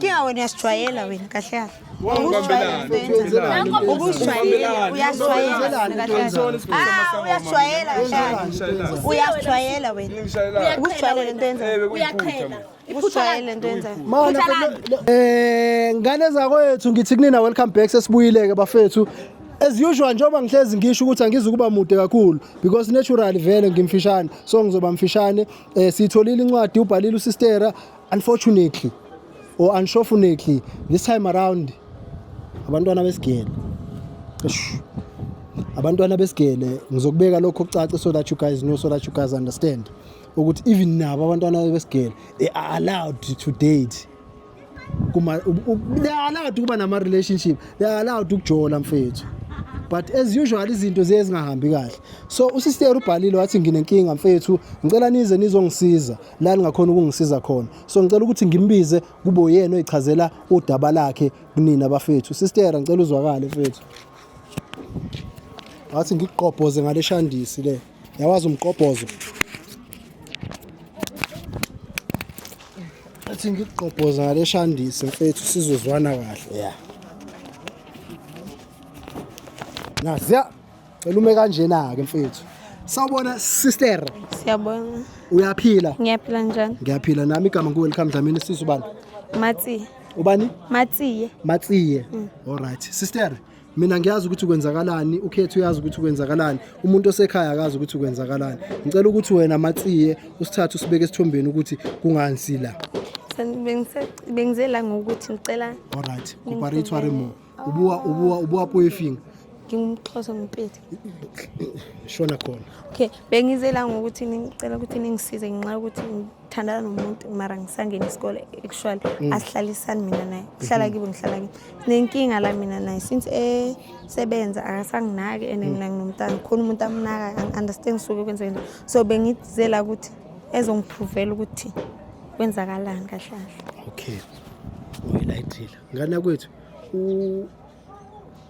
Kika wena uyasijwayela wena kahle kahle. Ubusijwayela uyasijwayela Ah uyasijwayela kahle. Uyasijwayela wena. Ubusijwayela lento yenzayo. Uyaqhela. Ubusijwayela lento yenzayo. Mana eh ngane zakwethu ngithi kunina welcome back sesibuyileke bafethu. as usual njengoba ngihlezi ngisho ukuthi angizukuba mude kakhulu because naturally vele ngimfishane so ngizoba mfishane eh sitholile incwadi ubhalile usistera Unfortunately or unfortunately this time around abantwana besigele abantwana besigele ngizokubeka lokho kucace so that you guys know so that you guys understand ukuthi even nabo abantwana besigele they are allowed to date kuma they are allowed ukuba nama relationship they are allowed ukujola mfethu but as usual izinto ziye zingahambi kahle so usister ubhalile wathi nginenkinga mfethu ngicela nize nizongisiza la ningakhona ukungisiza khona so ngicela ukuthi ngimbize kube uyena oyichazela udaba lakhe kunina bafethu sister ngicela uzwakale mfethu ngathi ngikuqobhoze ngale shandisi le yawazi umqobhozo athi ngikuqobhoza ngale shandisi mfethu sizozwana kahle yeah naziya Cela ume kanjena ke mfethu. Sawubona sister. Siyabona. Uyaphila? Ngiyaphila njani? Ngiyaphila nami igama ngu welcome Dlamini sisu bani? Matsi. Ubani? Matsiye. Matsiye. Mm. All right. Sister, mina ngiyazi ukuthi kwenzakalani ukhethu uyazi ukuthi kwenzakalani umuntu osekhaya akazi ukuthi kwenzakalani ngicela ukuthi wena matsiye usithathe usibeke esithombeni ukuthi kungansi la bengize la ngokuthi ngicela alright cooperate more o bua o bua o bua puo e feng ke umxhosa mpete shona khona okay bengizela ngokuthi ngicela ukuthi ningisize ngenxa yokuthi ngithandana nomuntu mara ngisangena isikole actually mm. asihlalisani mina naye kuhlala mm-hmm. kibo ngihlala kibo sinenkinga la mina naye since esebenza akasanginaki and mm. mina nginomntana khona umuntu amunaka angi-understand suke kwenzeka njani so bengizela ukuthi ezongiphuvela ukuthi kwenzakalani kahlahle okay uyilayithile ngane yakwethu u-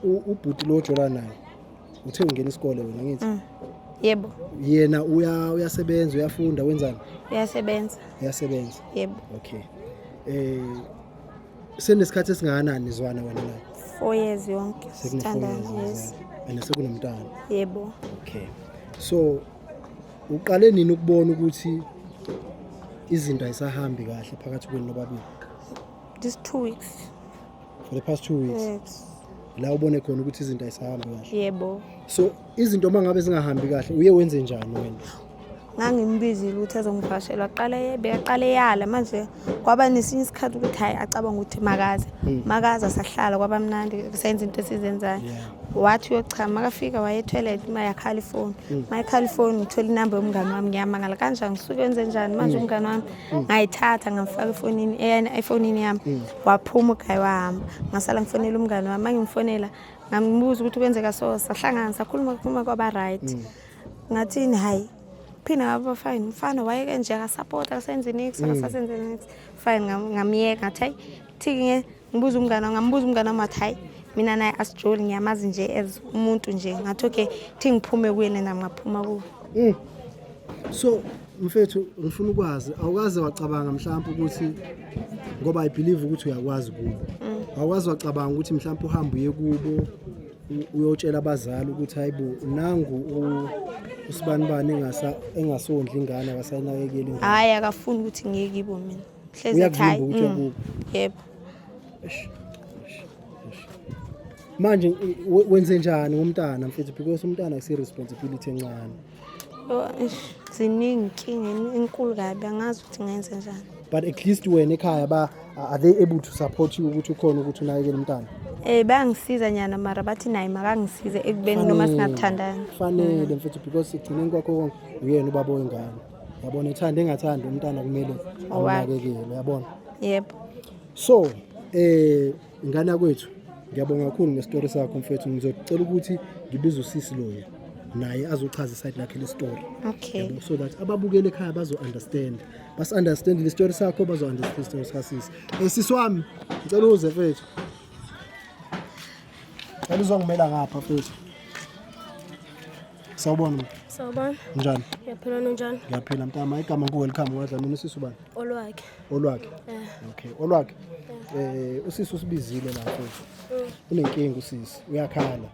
u- ubhuti lo ojola naye uthe ungena isikole wena ngithi Mm. yebo yena uya- uyasebenza uyafunda wenzani uyasebenza uyasebenza yebo okay um senesikhathi esingakanani nizwana wena naye four years yonke sithandana yes sekunefour and sekunomntana yebo okay so uqale nini ukubona ukuthi izinto ayisahambi kahle phakathi kwenu nobabili this two weeks for the past two weeks yes. la ubone khona ukuthi izinto ayisahambi kahle yebo so izinto uma ngabe zingahambi kahle uye wenze njani wena ngangimbizile ukuthi azongivashela waqala yebe yaqala eyala manje kwaba nesinye isikhathi ukuthi hhayi acabanga ukuthi makaze hmm. makaze asahlala kwaba mnandi kusenza into esizenzayo wathi uyochama makafika waye etoilet uma yakhala ifoni uma hmm. ikhala ifoni ngithola inamba yomngane wami ngiyamangala kanjani ngisuke wenze njani manje hmm. umngane wami ngayithatha ngamfaka efonini eyena efonini yami mm. waphuma ugayi wahamba ngasala ngifonela umngane wami mangimfonela ngambuza ukuthi kwenzeka so sahlangana sakhuluma khuluma kwaba right mm. ngathini hayi phina ngaba fine mfana wayeke nje akasapota akasenzi nix mm. akasasenzi nix fine ngamyeka ngathi hayi thike Ngibuza umngane ngambuza umngane wami wathi hayi mina naye asijoli ngiyamazi nje as umuntu nje ngathi okay thi ngiphume kuyena nami ngaphuma kuwe mm. so mfethu ngifuna ukwazi awukaze wacabanga mhlawumbe ukuthi ngoba i believe ukuthi uyakwazi kubo mm. awukaze wacabanga ukuthi mhlawumbe uhambe uye kubo uyotshela abazali ukuthi hayibo nangu usibanibani engasondli ingane akasayinakekeli hayi akafuni ukuthi ngiye kibo mina hlezi ethi hayi ukuthi mm, wakubo yebo manje wenze njani umntana mfethu because umntana akusi responsibility encane oh, ziningi inkinga enkulu kabi angazi ukuthi ngenze njani but at least wena ekhaya ba are they able to support you ukuthi ukhona ukuthi unakekele umntana eh bayangisiza nyana mara bathi naye makangisize ekubeni noma singathandani fanele mfethu because ekugcineni kwakho uyena ubaba wengane yabona ethanda engathandi umntana kumele awunakekele yabona yebo so eh ingane kwethu ngiyabonga kakhulu ngestory sakho mfethu ngizocela ukuthi ngibize usisi loya naye azochaza iside lakhe le story okay yabo so that ababukele ekhaya bazo understand bas understand le story sakho bazo understand story sakasisi eh sisi wami ngicela uze mfethu ngicela uzongimela ngapha mfethu Sawubona. Sawubona. Njani? Ngiyaphila nonjani? Ngiyaphila mntama. Igama ngu welcome wadla mina usisi ubani? Olwakhe. Olwakhe. Eh. Okay. Olwakhe. Eh, eh usisi usibizile la mfethu. Mm. Unenkinga usisi. Uyakhala.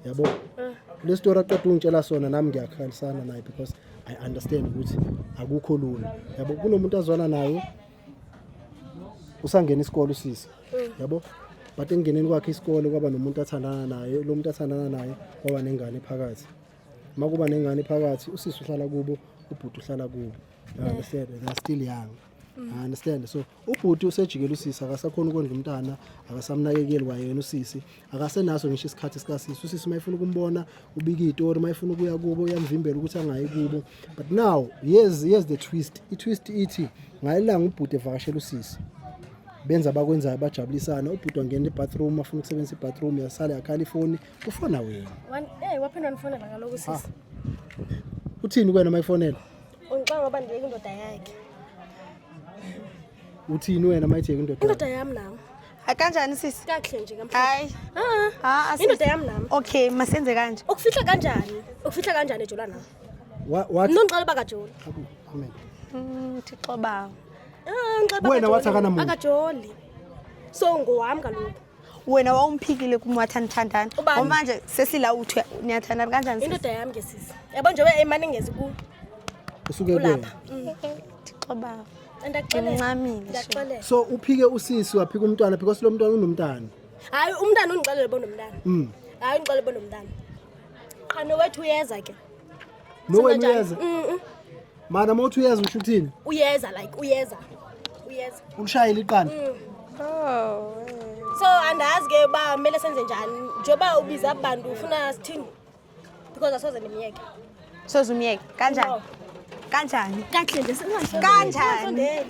Yabo? Eh. Le story aqeda ungitshela sona nami ngiyakhalisana naye because I understand ukuthi akukho lula. Yabo kunomuntu azwana naye usangena isikole usisi yabo but engeneni kwakhe isikole kwaba nomuntu athandana naye lo muntu athandana naye kwaba nengane phakathi uma kuba nengane phakathi usisi uhlala kubo ubhuti uhlala kubo You understand they are still young I understand so ubhuti usejikela usisi akasakhona ukondla umntana akasamnakekeli kwayena usisi akasenaso ngisho isikhathi sikasisi usisi uma efuna ukumbona ubika itori uma efuna ukuya kubo uyamvimbela ukuthi angayi kubo but now yes yes the twist i-twist ithi ngalelanga ubhuti evakashela usisi benza abakwenzayo bajabulisana ubhuti wangena ebathroom afuna ukusebenzisa ibathroom yasale yakhala ifoni ufona wena eh, waphinda nifonela ngaloko sisi ah. uthini kwena uma ifonela ungixanga uba ndibeka indoda yakhe uthini wena mayijeke indoda indoda yami nami hayi kanjani sisi kakuhle nje hayi ah, ah, ah, indoda yami nami okay masenze kanje ukufihla kanjani ukufihla kanjani ejola nami nongiqala uba kajola amen mm, thixo bawo wena wathi akanamona akajoli so ngowami kaloku wena wawumphikile kumwathani thandana Ubani? omanje sesila uthi niyathandana kanjani sisi? indoda yami ke sisi yabo njengoba imane ngezi ku usuke kuwena kulapha Thixo baba andakuxelela Uncamile nje. ndakuxelela so uphike usisi waphika umntwana because lo mntwana unomntana hayi umntana ungixelele bonomntana Mm. hayi ungixelele bonomntana qhano wethu uyeza ke nowena uyeza mana uma uthi uyeza usho uthini uyeza like uyeza uyeza ulishayela iqanda mm. oh, so andazi ke uba kumele senze njani njengoba ubiza abantu ufuna sithini because asoze ndimyeke soze umyeke kanjani kanjani kanjani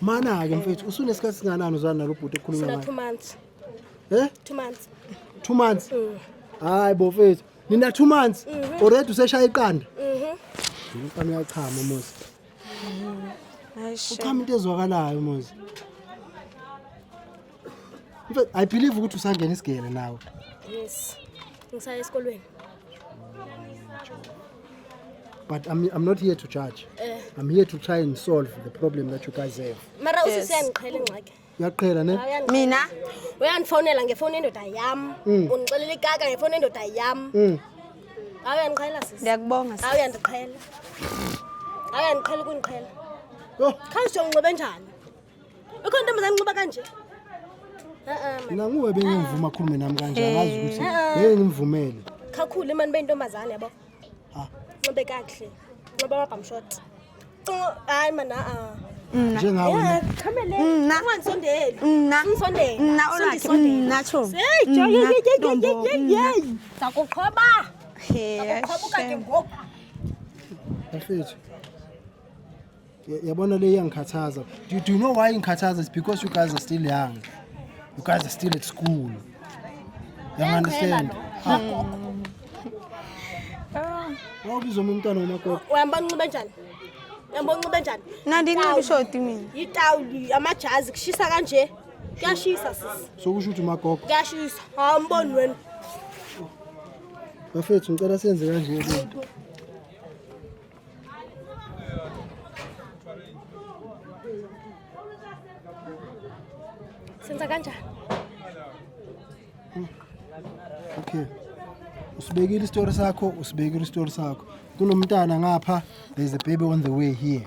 Mana-ke mfethu usunesikhathi singanani uzwana nalo bhuti ekhuluma Sona ngayo? two months. Eh? Two months. Two months. Mm. Hayi bo mfethu. Nina two months Mhm. already useshaya iqanda. Mhm. Ngifana uyachama Mosi. Hayi shame. Uchama into ezwakalayo Mosi. I believe ukuthi usangena isigele nawe. Yes. Ngisaya esikolweni. But I'm, I'm not here to judge. Eh. I'm here to try and solve the problem that you guys have. Mara usisi uyangiqhela ingxaki. Uyaqhela ne? Mina uyangifonela ngefoni endoda yam. Mm. Ungixelela ikaka ngefoni endoda yam. Mm. Hawu uyangiqhela sisi. Ndiyakubonga sisi. Hawu uyandiqhela. Hawu uyandiqhela ukundiqhela. Yho. Khawusho unxibe njani? Ukhona intombazane nqoba kanje. Mina nguwe bengimvuma khulume nami kanje angazi ukuthi ngeke ngimvumele. Khakhulu imani beyintombazane yabo. Ha. Nqobe kahle. Nqoba amabhamu short. Hayi mana a. Njengawe. Khamele. Ungansondeli. Ungisondeli. Nna olakhe. Nna cho. Hey, jo ye ye ye ye ye. Sakuqhoba. He. Sakuqhoba kade ngoku. Bafethu. yabona le iyangikhathaza do, do you know why ingikhathaza is because you guys are still young you guys are still at school you understand wawubizwa uma umntwana womakoko uyambona unxibe njani uyambona unxibe njani nandinxiba ishoti mina yitawuli amajazi kushisa kanje kuyashisa sisi sokusho ukuthi umagogo kuyashisa awumboni wena bafethu ngicela senze kanje lento Senza kanjani? Hmm. Okay. Usibekile isitori sakho, usibekile isitori sakho. Kunomntana ngapha, there's a baby on the way here.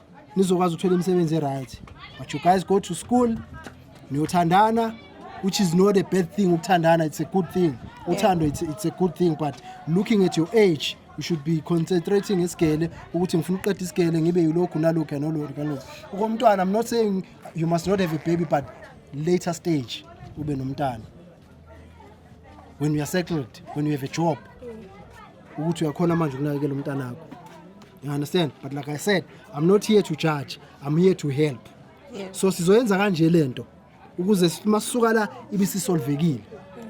nizokwazi ukuthola imisebenzi e-right but you guys go to school niyothandana which is not a bad thing ukuthandana it's a good thing uthando it's, it's a good thing but looking at your age you should be concentrating ngesigele ukuthi ngifuna uqeda isigele ngibe yilokhu nalokhu nolokhu nalokhu ukomntwana i'm not saying you must not have a baby but later stage ube nomntana when you are settled when you have a job ukuthi uyakhona manje ukunakekela umntanakho you understand but like i said i'm not here to judge i'm here to help yeah. so sizoyenza kanje lento ukuze masuka la ibisisolvekile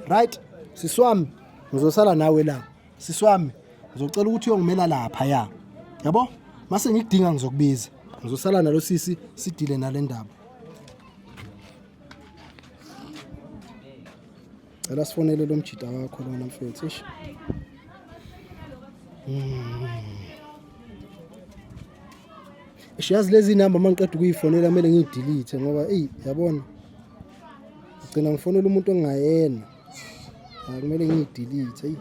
right siswami ngizosala nawe la siswami ngizocela ukuthi uyongimela lapha ya yabo mase ngikudinga ngizokubiza ngizosala nalo sisi sidile nale ndaba cela sifonele lo mjita wakho lona mfethu ish hmm. ish yazi lezi namba uma ngiqeda ukuyifonela kumele ngiyidilithe ngoba eyi yabona ngigcina ngifonela umuntu ongayena akumele ngiyidilithe eyi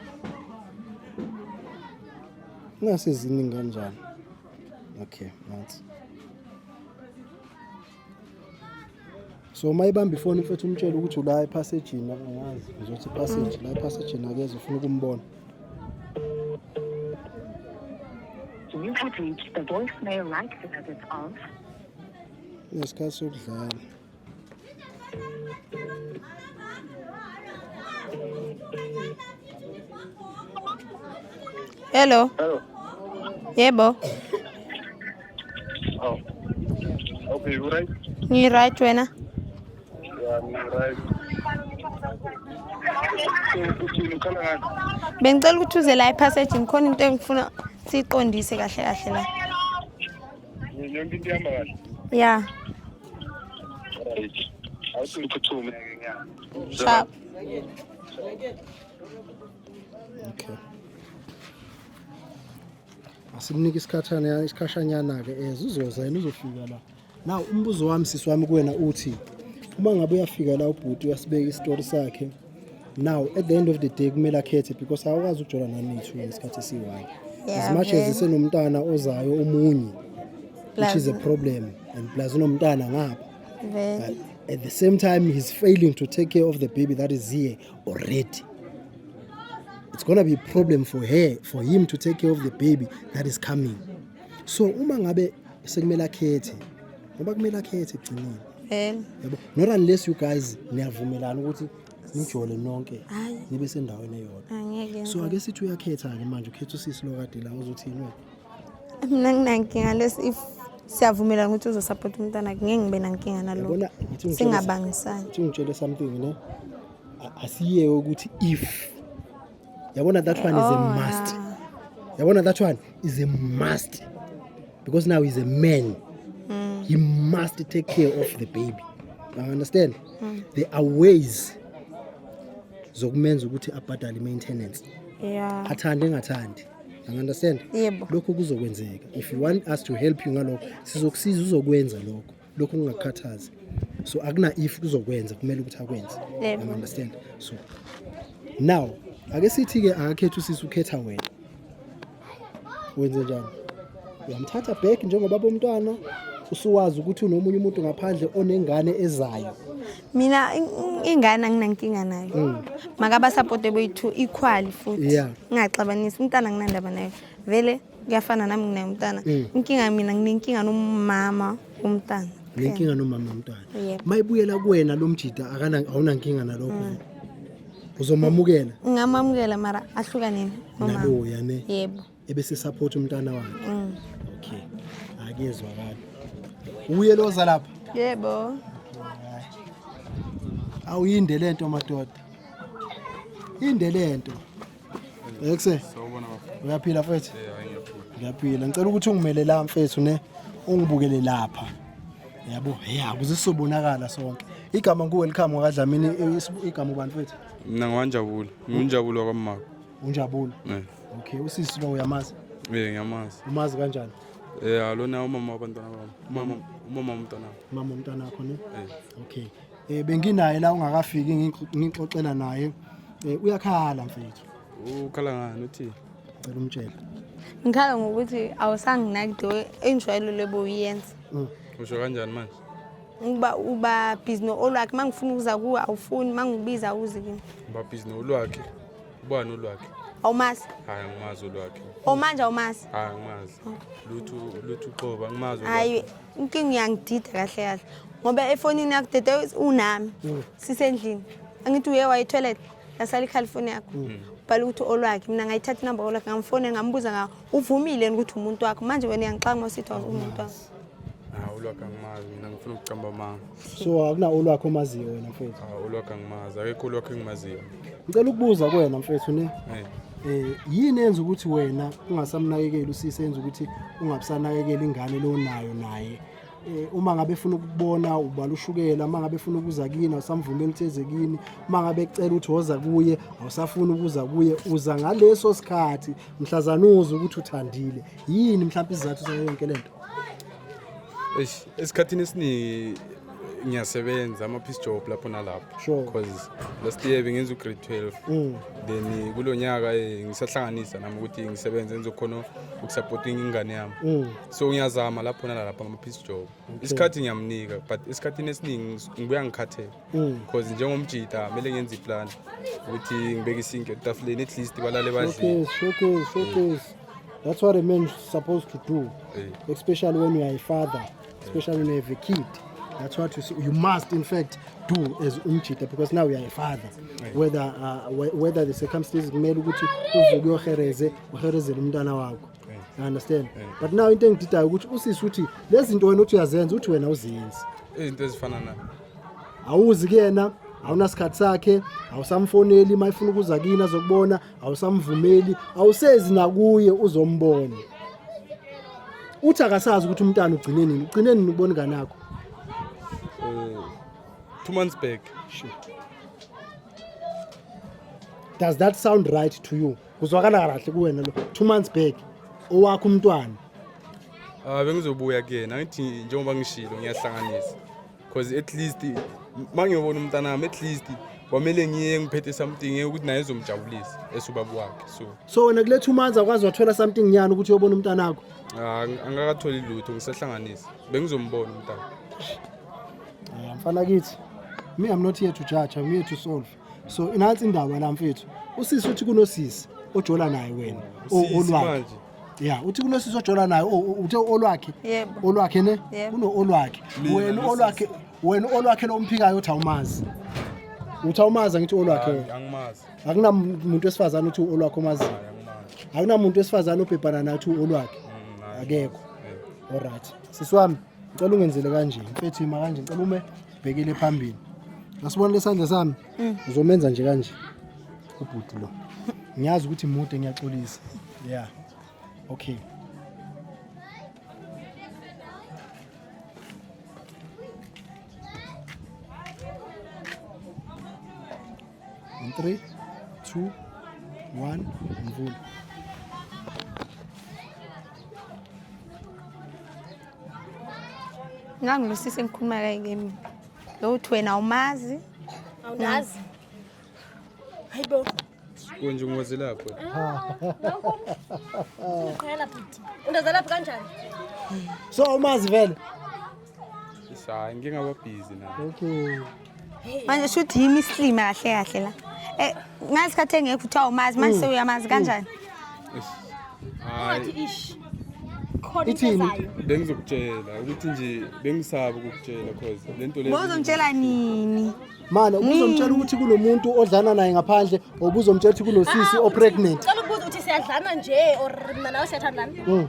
ingase ziningi kanjani okay nathi so uma ibamba ifoni mfethu umtshele ukuthi ula ephasejini angazi ngizothi ipaseji la ephasejini akeze ufuna ukumbona You have reached the voicemail like service of. Ngesikhathi sokudlala. Hello. Hello. Yebo. Okay, you right? Ni right wena? Yeah, ni right. Bengicela ukuthi uze la epassage ngikhona into engifuna siqondise kahle kahle la. Yonke into ihamba kahle. Yeah. Right. Awusiphuthume ke nya. Cha. Okay. asimnike isikhathana isikhashanyana-ke as eh, uzoza yena uzofika la na umbuzo wami sisi wami kuwena uthi uma ngabe uyafika la ubhuti uyasibeka isitori sakhe now at the end of the day kumele akhethe because awukwazi ukujola nami two ngesikhathi esiyi-one as much as isenomntana ozayo omunye which is a problem and plus unomntana ngapha at the same time he's failing to take care of the baby that is here already it's gonna be a problem for her for him to take care of the baby that is coming so uma ngabe sekumele akhethe ngoba kumele akhethe ekugcineni vele yabo not unless you guys niyavumelana ukuthi nijole nonke Hayi. nibe sendaweni eyodwa angeke so ake sithi uyakhetha-ke manje ukhetha usisi lo kade la uzothini wena mina nginankinga lesi if siyavumelana ukuthi uzosapota umntana ngeke ngibe nankinga naloko yabona ngithi ungitshele- singabangisani ngithi ungitshele something ne asiyeke ukuthi if yabona that one is a oh, must yabona that one is a must because now he's a man mm. he must take care of the baby now understand mm. there are ways zokumenza ukuthi abhadale maintenance yeah athande engathandi understand yebo lokho kuzokwenzeka if you want us to help you ngalokho sizokusiza uzokwenza lokho lokho kungakukhathazi so akuna if kuzokwenza kumele ukuthi akwenze Yebo. you understand so now ake sithi ke akakhetha usisi ukhetha wena wenze njani uyamthatha back njengoba bomntwana usuwazi ukuthi unomunye umuntu ngaphandle onengane ezayo mina in- in- ingane anginankinga nayo makaba support boyi-two equally futhi Yeah. ngingaxabanisi umntana anginandaba nayo vele kuyafana nami nginaye umntana mm. inkinga mina nginenkinga nomama umntana nginenkinga nomama umntwana mayibuyela kuwena lo mjida awunankinga nalokho mm. uzomamukela ngamamukela mara ahlukaneni naloya ne yebo ebese support umntana wakhe mm. okay akezwakala uye loza lapha yebo awuyinde lento madoda inde lento Ekse. Sawubona bafo. Uyaphila mfethu? Yeah, ngiyaphila. Ngiyaphila. Ngicela ukuthi ungimele la mfethu ne ungibukele lapha. Yabo, hey akuze sobonakala sonke. Igama ngu welcome wakadlamini i- igama ubani mfethu? Mina ngiwanjabulo. Nginjabulo wakamama. Unjabulo. Eh. Okay, usisi lo uyamazi. Eh, ngiyamazi. Umazi kanjani? Eh, alona umama wabantwana bami. Umama umama womntwana wami. Mama umntana wakho ne? Eh. Okay. Eh benginaye la ungakafiki ngixoxela naye. Eh uyakhala mfethu. Ukhala ngani uthi? Cela umtshela. Ngikhala ngokuthi awusanginaki do enjwayelo leboyenza. Mm. Usho kanjani manje? Uba uba busy no olwakhe mangifuna ukuza kuwe awufuni mangibiza uze kimi. Uba busy no olwakhe. Ubani olwakhe? awumazi hayi angimazi olwakhe omanje awumazi hayi angimazi lutho lutho uqoba angimazi hayi inkinga uyangidida kahle kahle ngoba efonini yakho dede unami mm. sisendlini angithi uye wayetoilet lasala ikhali ifoni yakho mm. bhala ukuthi olwakhe mina ngayithatha inamba olwakhe ngamfone ngambuza nga uvumile ukuthi umuntu wakho manje wena uyangixaka masithi umuntu wakho hawu lwakhe angimazi mina ngifuna ukucamba amanga so akuna olwakho omaziyo wena mfethu Ah, ulwakhe angimazi akekho ulwakhe engimaziyo ngicela ukubuza kuwena mfethu ne Eh. eh yini enza ukuthi wena ungasamnakekeli usisi enza ukuthi ungabusanakekeli ingane lo nayo naye eh uma ngabe efuna ukubona ubala ushukela uma ngabe efuna ukuza kini awusamvumeli utheze kini uma ngabe ecela ukuthi woza kuye awusafuni ukuza kuye uza ngaleso sikhathi mhlazana uzwe ukuthi uthandile yini mhlawumbe isizathu sayo yonke lento Eish, esikhathini esiningi ngiyasebenza ama piece job lapho nalapho Sure. because last year bengenza ugrade 12 Mm. then kulo nyaka eh, ngisahlanganisa nami ukuthi ngisebenze ngizokhona ukusupporting ingane yami Mm. so ngiyazama lapho nalalapho ama piece job isikhathi ngiyamnika but esikhathini esiningi ngis- ngibuya ngikhathele Mm. because njengomjita kumele ngenze iplan ukuthi ngibeke isinke etafuleni at least balale badlile Showcase, showcase, showcase. That's what a man is supposed to do, hey. especially when you are a father, especially when you have a kid. That's what you, see. you must, in fact, do as umjita because now you are a father. Hey. Whether uh, whether the circumstances kumele ukuthi uvuke uyohereze uherezele umntana wakho. You understand? Hey. But now into engididayo ukuthi usisi uthi lezi zinto wena uthi uyazenza uthi wena uzenzi. Izinto ezifana na. Awuzi kuyena awunasikhathi sakhe awusamfoneli uma efuna ukuza kini azokubona awusamvumeli awusezi nakuye uzombona uthi akasazi ukuthi umntana ugcine nini ugcine nini ubona ingane yakho uh, two months back sure. does that sound right to you kuzwakala kahle kuwena lo two months back owakho umntwana Ah bengizobuya kuyena ngithi njengoba ngishilo ngiyahlanganisa cause at least uma ngiyobona umntanami at least kwamele ngiye ngiphethe something ukuthi naye ezomjabulisa esubaba wakhe so so wena kuletha umanzi akwazi wathola something nyana ukuthi uyobona umntanakho ah, ang- angakatholi lutho ngisahlanganisa bengizombona umntana Yeah, mfana kithi me i'm not here to judge i'm here to solve so inansi indaba la mfethu usisi uthi kunosisi ojola naye wena o- olwakhe ya uthi kunosisi ojola naye o- o- uthe olwakhe Yebo. olwakhe ne Yebo. kuno olwakhe Mina wena losisi. olwakhe wena olwakhe lomphikayo uthi awumazi uthi awumazi angithi olwakhe wena angimazi akunamuntu wesifazane uthi olwakhe omaziyo angimazi akunamuntu wesifazane obhebhana naye uthi olwakhe Mm, hayi. akekho olright sisi wami Ngicela ungenzele kanje, mfethu ima kanje, ngicela ume bhekele phambili. Ngasibona lesandla sami. Mm. Uzomenza nje kanje. Ubhuti lo. Ngiyazi ukuthi mude ngiyaxolisa. Yeah. Okay. In three, two, one, mvula. ngangilusisi engikhuluma kayi kimi lo uthi wena awumazi awunazi hayi bo kunje ungozi lapho uqhela bhuti undazalaphi kanjani so awumazi vele sayi ngingababhizi na okay manje shuthi yimi isilima kahle kahle la eh ngasikhathi engekho uthiwa umazi manje mm. sewuyamazi mm. kanjani ungathi ish khona into ezayo bengizokutshela ukuthi nje bengisaba ukukutshela cause lento le Bozongitshela nini manje ubuzomtshela ukuthi kunomuntu odlana naye ngaphandle obuzomtshela ukuthi kunosisi ah, o pregnant Cela ukubuza ukuthi siyadlana nje or mina nawe siyathandana mm.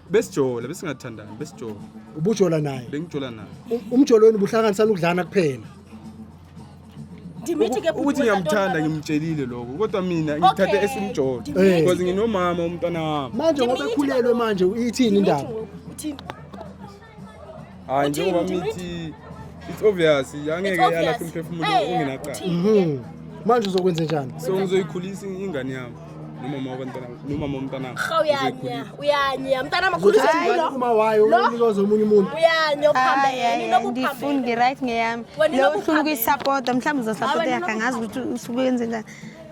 besijola besingathandani besijola ubujola naye bengijola naye Um- umjolo wenu buhlanganisa nokudlana kuphela Dimithi ke Uku- ukuthi ngiyamthanda ngimtshelile lokho kodwa mina ngithathe Okay. esimjolo Eh. because nginomama umntwana wami manje ngoba ekhulelwe manje ithini indaba Uthini? hayi njengoba mithi it's obvious angeke It's obvious. yalahla umphefumulo Eh, eh, ungenacala uthini? Mhm. manje uzokwenza njani so ngizoyikhulisa ingane yami nomama wabantwana nomama womntana wami. Cha uyanya, uyanya. Mntana makhulisa Uzothi ingane ingane. uma wayo Lo. unikwa zomunye umuntu Uyanya uphambene. Hayi, hayi, hayi, Ninokuphambene. ngifuni ngi-right ngeyami Wena lowo uhlula unokuphambene. ukuyisapota mhlawumbe uzosapota Hayi, wena yakhe angazi ukuthi usuke wenze njani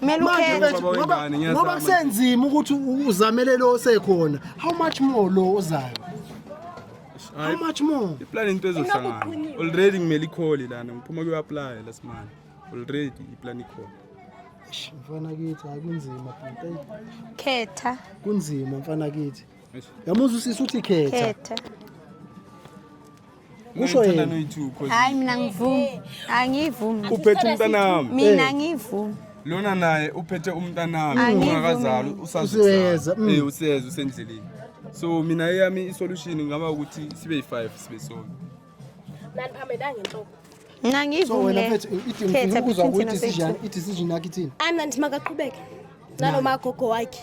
kumele ukhethe ngoba ngoba kusenzima ukuthi uzamele lo osekhona how much more lo ozayo how much more iplan into ezohlangana already kumele ikhole lana ngiphuma kuyo apply la simanje already iplan ikhole mfana kithi hayi kunzima khetha kunzima mfana kithi yamuzwa usisi uthi khetha khetha Kusho yena. Hayi mina ngivumi. Angivumi. Uphethe umntanami. Mina eh. ngivumi. Lona naye uphethe umntanami ungakazali usazisa. Mm. Eh useza usendleleni. So mina eyami isolution ngaba ukuthi sibe yi5 sibe solo. Nani phamela ngenhloko. Mina ngivumile. So wena mfethu idinga ukuzwa ukuthi decision i decision yakhe ithini? Ana nti makaqhubeke. Nalo magogo wakhe.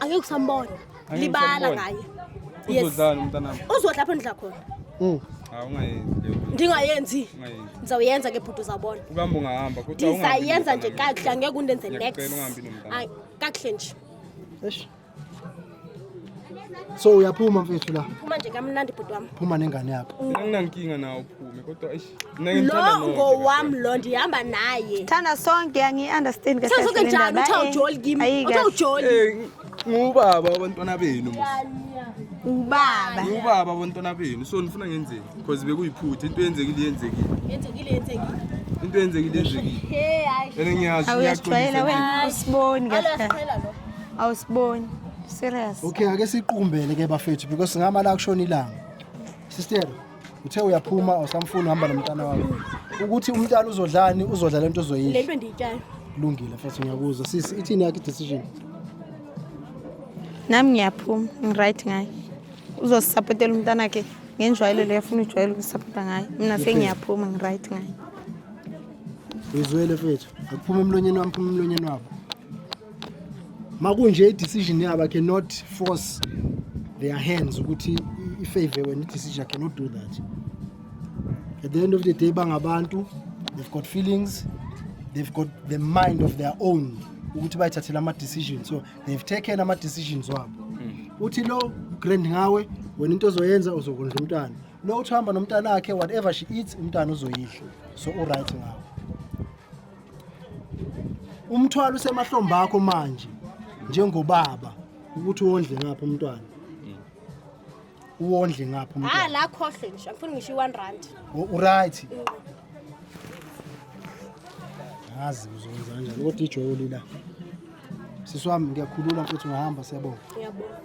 angeke usambona Angeke libala usambona. ngaye Yes. Uzodlani umntanami? uzodla apho ndidla khona Mm. Hawu ungayenzi leyo nto, ndingayenzi ungayenzi. ndizawuyenza ke bhuti uzawubona Ukuhamba ungahamba kodwa ungahambi ndisayenza nje nomntanami. kakuhle angeke undenze next Ngiyakucela ungahambi nomntanami. Ay, kakuhle nje Eish. So uyaphuma mfethu la. phuma nje kamnandi bhuti wam Phuma nengane yakho. Mina nginankinga nawo uphume kodwa eish lo ngowam lo ndihamba naye thanda sonke angiyi-understand thanda sonke njani uthiwa ujoli kim uthiwa ujoli eh, ngubaba abantwana benu ubaba ubaba abantwana benu so nifuna ngenzeni because bekuyiphutha into yenzekile yenzekile yenzekile yenzekile into yenzekile yenzekile ene ngiyazi uyasijwayela wena usiboni kahle awusiboni serious okay ake siqumbele ke bafethu because ngama la kushona ilanga sister uthe uyaphuma awusamfuni uhamba nomntana wakho ukuthi umntana uzodlani uzodla lento uzoyisho lento endiyityayo lungile mfethu ngiyakuzwa sisi ithini yakhe decision nami ngiyaphuma ngiright ngaye uzosisapotela umntana wakhe ngenjwayelo leyo afuna ujwayele ukusapota ngaye mina sengiyaphuma ngiright ngaye uyizwele fethu akuphuma emlonyeni wami phuma emlonyeni wabo makunje i-decision yabo cannot force their hands ukuthi ifavor wena i-decision cannot do that at the end of the day bangabantu they've got feelings they've got the mind of their own ukuthi bayithathela ama-decision so they've taken ama-decisions wabo hmm. uthi lo grand ngawe wena into ozoyenza uzokondla umntana lo uthi uhamba nomntana wakhe whatever she eats umntana uzoyidla so uright ngawo umthwalo usemahlombe akho manje njengobaba ukuthi uwondle ngapha umntwana uwondle ngapha ah, umntwana ah la khohle nje angifuni ngisho i1 rand uright ngazi uzokwenza kanjani kodwa ijoli la sisi wami ngiyakhulula futhi ngihamba siyabonga ngiyabonga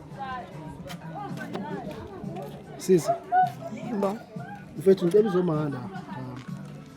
sisi yebo mfethu ngicela uzomahamba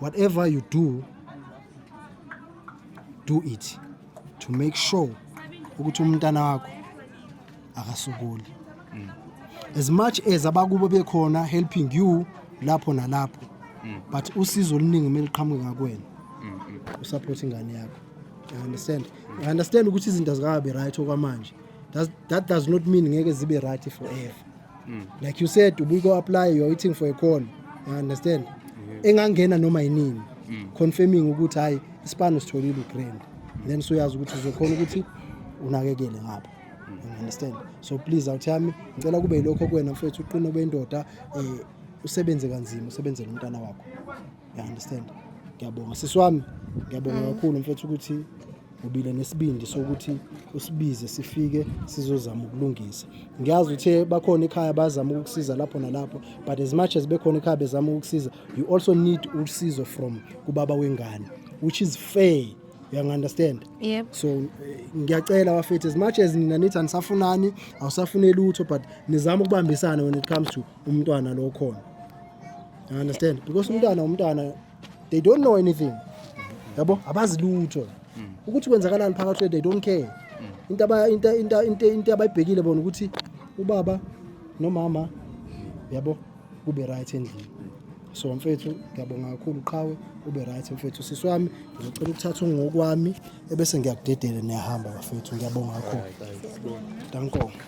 whatever you do do it to make sure ukuthi umntana wakho akasukuli mm. as much as abakubo bekhona helping you lapho nalapho mm. but usizo oluningi uma liqhamuke ngakwena mm, usupport ingane yakho i understand i understand ukuthi izinto zikabe right okwamanje that does not mean ngeke zibe right forever mm. like you said ubuko apply you are waiting for a call you understand mm. engangena noma yinini mm. confirming ukuthi hayi isipano sitholile ugrand mm. then soyazi ukuthi uzokhona ukuthi unakekele ngapha mm. you understand so please awuthami ngicela kube yilokho kuwena mfethu uqine obendoda eh usebenze kanzima usebenzele umntana wakho you understand ngiyabonga sisi wami ngiyabonga mm. kakhulu mfethu ukuthi ubile nesibindi sokuthi usibize sifike sizozama ukulungisa ngiyazi uthe bakhona ekhaya bazama ukukusiza lapho nalapho but as much as bekhona ekhaya bezama ukukusiza you also need usizo from kubaba wengane which is fair uyangu-understand yep. so eh, ngiyacela bafethu as much as nina nithi anisafunani awusafuneli lutho but nizama ukubambisana when it comes to umntwana lo khona You understand? Because umntwana umntwana they don't know anything. Yabo abazi lutho. Ukuthi kwenzakalani phakathi kwethu they don't care. Into aba into into into into abayibhekile bona ukuthi ubaba nomama yabo kube right endlini. So mfethu ngiyabonga kakhulu qhawe ube right mfethu sisi wami ngicela ukuthatha ungokwami ebese ngiyakudedela niyahamba bafethu ngiyabonga kakhulu. Danko.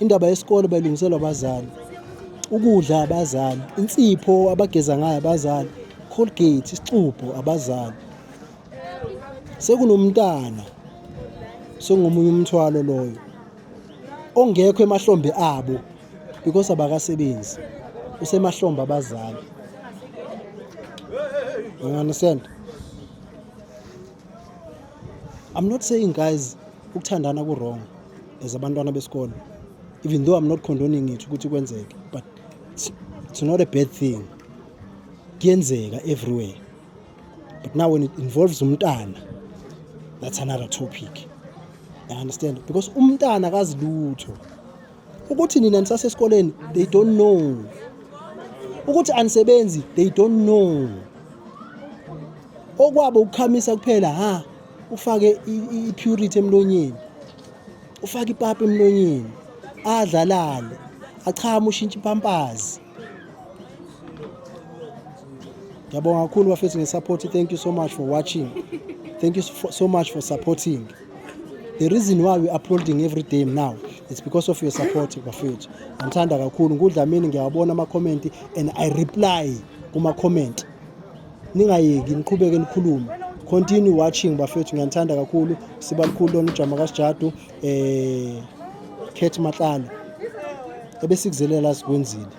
Indaba yesikole bayilungiselwa abazali, ukudla abazali, insipho abageza ngayo abazali, Colgate, isixubho abazali. Sekunomntana sengomunye umthwalo loyo ongekho emahlombe abo because abakasebenzi usemahlombe abazali you understand i'm not saying guys ukuthandana ku-wrong as abantwana besikole even though i'm not condoning it ukuthi kwenzeke but it's not a bad thing kuyenzeka everywhere but now when it involves umntana that's another topic i understand because umntana akazi lutho ukuthi nina nisasesikoleni they don't know ukuthi anisebenzi they don't know okwabo ukukhamisa kuphela ha ufake i-purity emlonyeni ufake ipapa emlonyeni adlalale achame ushintshe ipampazi ngiyabonga kakhulu bafethu ngesupport thank you so much for watching thank you so much for supporting the reason why we uploading every day now it's because of your support bafethu ngithanda kakhulu ngudlamini ngiyawabona ama-comment and i reply kuma-comment ningayeki niqhubeke nikhulume continue watching bafethu ngiyanithanda kakhulu siba likhulu lona ujama kasijadu eh Kate Matlala ebesikuzelela sikwenzile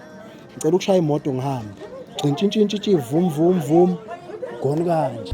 ngicela ukushaya imoto ngihambe gcintshintshintshi vum vum vum gone kanje